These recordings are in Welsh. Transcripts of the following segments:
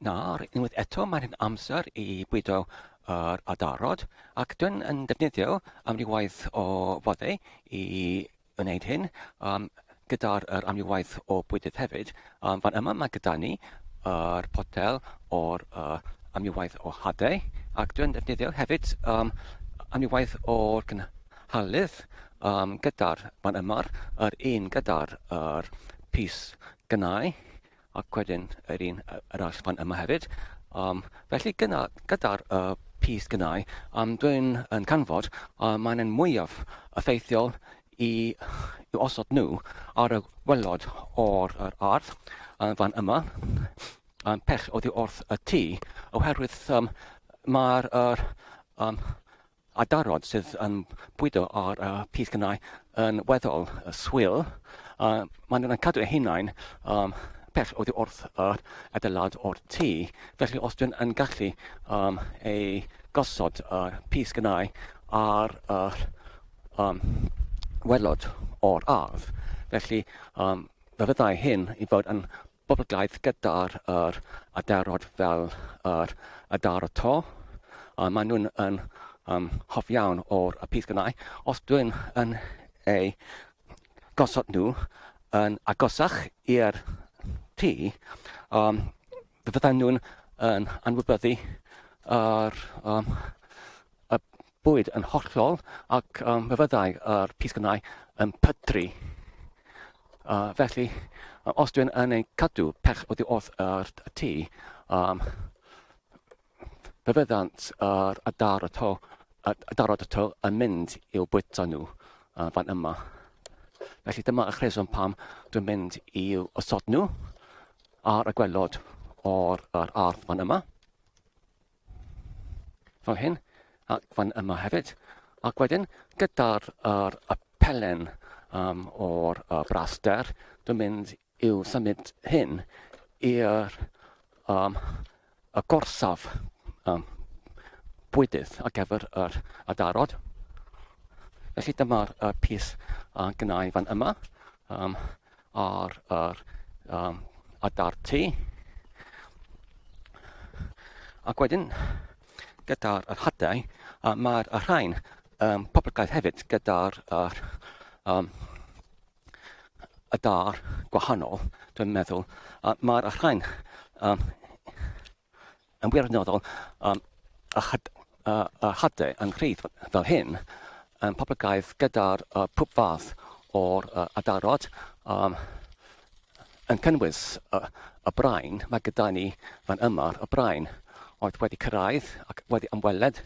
Nawr, unwaith eto, mae'n hyn amser i bwydo yr adarod, ac dwi'n yn defnyddio amrywaith o foddau i wneud hyn, um, gyda'r er amrywaith o bwydydd hefyd. Um, fan yma mae gyda ni yr er potel o'r uh, amrywaith o hadau, ac dwi'n defnyddio hefyd um, amrywaith o'r cynhalydd um, gyda'r fan yma'r yr un gyda'r er pys gynnau, ac wedyn yr un arall fan yma hefyd. Um, felly gyda'r gyda uh, pys gynnau, um, dwi'n yn canfod uh, mae'n yn mwyaf effeithiol i, i osod nhw ar y gwellod o'r ar ardd uh, fan yma, um, pell oddi wrth y tŷ, oherwydd um, mae'r er, um, a darod sydd yn bwydo ar y pys gynnau yn weddol swil, a maen nhw'n cadw eu hunain um, pell oddi wrth yr adeilad o'r tŷ. Felly os dwi'n yn gallu um, ei gosod y uh, pys gynnau ar yr um, welod o'r ardd, felly um, fe fyddai hyn i fod yn boblogaeth gyda'r yr aderod fel yr aderod to a maen nhw'n yn um, hoff iawn o'r y pys gynnau. Os dwi'n yn ei gosod nhw yn agosach i'r tŷ, um, fydden nhw'n yn anwybyddu yr, um, y bwyd yn hollol ac um, fe fyddai yr pisgynau yn pydru. Uh, felly, os dwi'n yn ei cadw pell oddi wrth yr tŷ, um, fe fyddant yr adar y to, adarod y to yn mynd i'w bwyta nhw uh, fan yma. Felly dyma y chreswm pam dwi'n mynd i'w osod nhw ar y gwelod o'r ardd fan yma. fel hyn, ac fan yma hefyd. Ac wedyn, gyda'r er, y pelen um, o'r uh, braster, dwi'n mynd i'w symud hyn i'r um, y gorsaf um, bwydydd ar gyfer yr adarod. Felly dyma'r uh, pys uh, gynnau fan yma. um, ar yr um, adarty. Ac wedyn, gyda'r yr hadau, uh, mae'r rhain um, poblogaidd hefyd gyda'r yr, um, y dar gwahanol, dwi'n meddwl. Uh, mae'r rhain um, Yn wirioneddol, a chade yn rhydd fel hyn, yn poblogaidd gyda'r pwb fath o'r adarod, yn cynnwys y brain, mae gyda ni fan yma y brain oedd wedi cyrraedd ac wedi ymweled,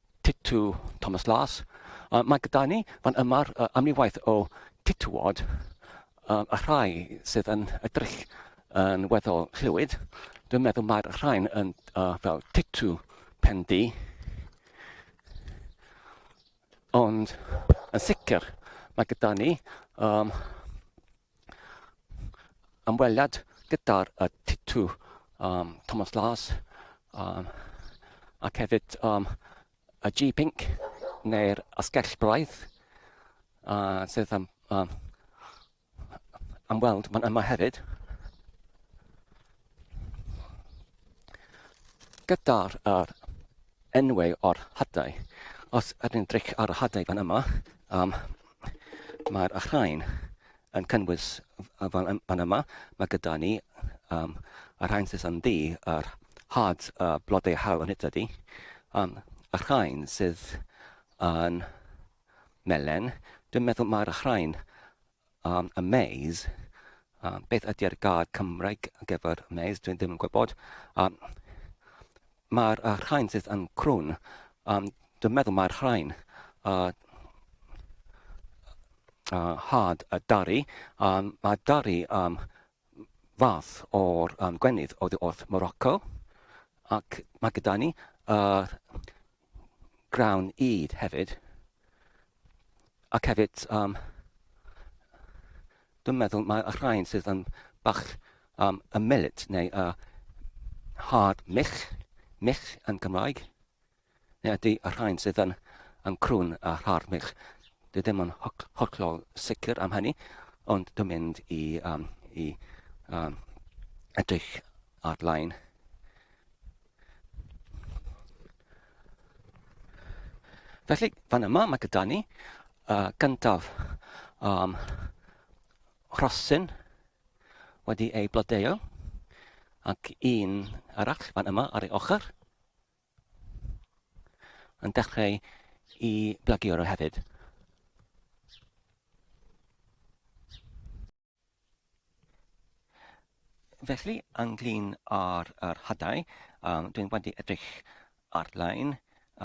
Titw Thomas Las. Uh, mae gyda ni fan yma'r uh, amrywaith o titwod uh, a rhai sydd yn edrych yn weddol llwyd. Dwi'n meddwl mae'r rhain yn uh, fel titw pendi. Ond yn sicr mae gyda ni um, ymweliad gyda'r uh, Titw um, Thomas Lars um, ac hefyd um, y G-Pink neu'r Asgell Braidd uh, sydd am, um, am weld yma hefyd. Gyda'r yr enwau o'r hadau, os ydyn dric ar y hadau fan yma, um, mae'r rhain yn cynnwys fan, fan yma, mae gyda ni um, y rhain sydd yn ddi, yr had uh, blodau haul yn hyd ydy, um, y rhain sydd yn melen, dwi'n meddwl mae'r rhain Am y maze, um, beth ydy'r gair Cymraeg ar gyfer maze? Dwi'n ddim yn gwybod. Um, mae'r uh, rhain sydd yn crwn, um, dwi'n meddwl mae'r rhain uh, uh, had a dari. Um, mae dari um, fath o'r um, gwenith oddi wrth Morocco, ac mae gyda ni yr grawn ŷd hefyd, ac hefyd, um, dwi'n meddwl mae y rhain sydd yn bach um, y millet neu y hard mich, mich yn Gymraeg, Neu ydy y rhain sydd yn yn crwn a rharmig? Dwi ddim yn holl- hollol sicr am hynny, ond dwi'n mynd i yym i yym edrych ar-lein. Felly, fan yma mae gyda ni uh, gyntaf um, rhosyn wedi ei blodeuo ac un arall fan yma ar ei ochr. Yn dechrau i blagio ro hefyd. Felly, ynglyn â'r yr hadau, um, dwi'n wedi edrych ar-lein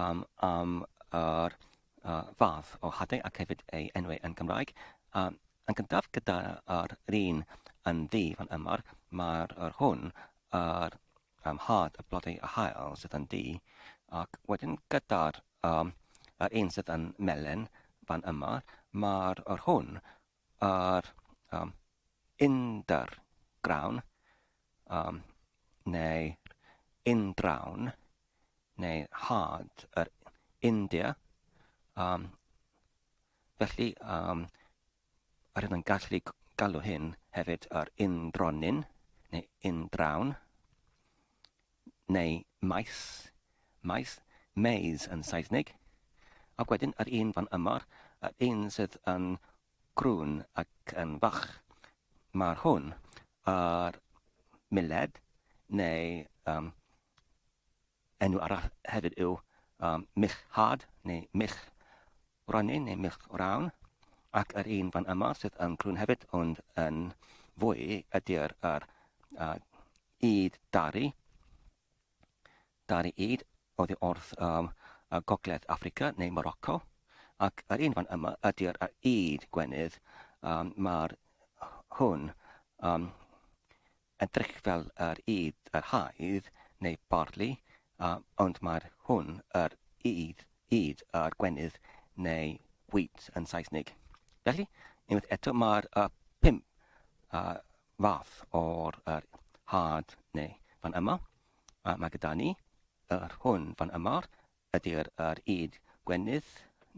um, am yr uh, fath o hadau ac hefyd ei enwau yn Gymraeg. Um, yn gyntaf gyda'r un yn ddi fan yma, mae'r hwn yr am hâd y blodau a haul sydd yn du, ac wedyn gyda'r um, yr un sydd yn melyn fan yma, mae'r yr hwn, yr um, indr grawn, um, neu indrawn, neu hâd yr India, um, Felly, um, Rydyn ni'n gallu galw hyn hefyd yr undronin, neu undraun, neu maes, maes, maze yn Saesneg, ac wedyn yr un fan yma, yr un sydd yn grwn ac yn fach. Mae'r hwn ar miled neu um, Enw arall hefyd yw Mich Hard neu Mich Wrannin neu Mich Wrawn ac yr un fan yma sydd yn crwn hefyd ond yn fwy ydy'r yr Ŷd Dari. Dari Ŷd oddi wrth um, Gogledd Africa neu Morocco ac yr un fan yma ydy'r yr Ŷd Gwenydd um, mae'r hwn um, Edrych fel yr ŷd yr haidd, neu barley, a, ond mae'r hwn yr ŷd, ŷd yr gwenydd, neu wheat yn Saesnig. Felly, unwaith eto, mae'r y pump a, fath o'r yr had neu fan yma, a mae gyda ni yr hwn fan yma, ydy'r yr ŷd gwenydd,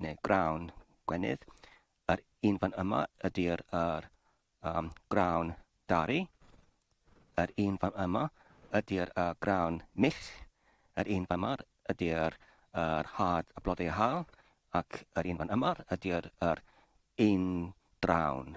neu grawn gwenydd, yr un fan yma ydy'r yr Ym Grawn Dari, yr un fan yma, ydy'r yy grawn mill, yr un fan yma ydy'r yr hâd a blodau haul, ac yr un fan yma ydy'r yr un drawn.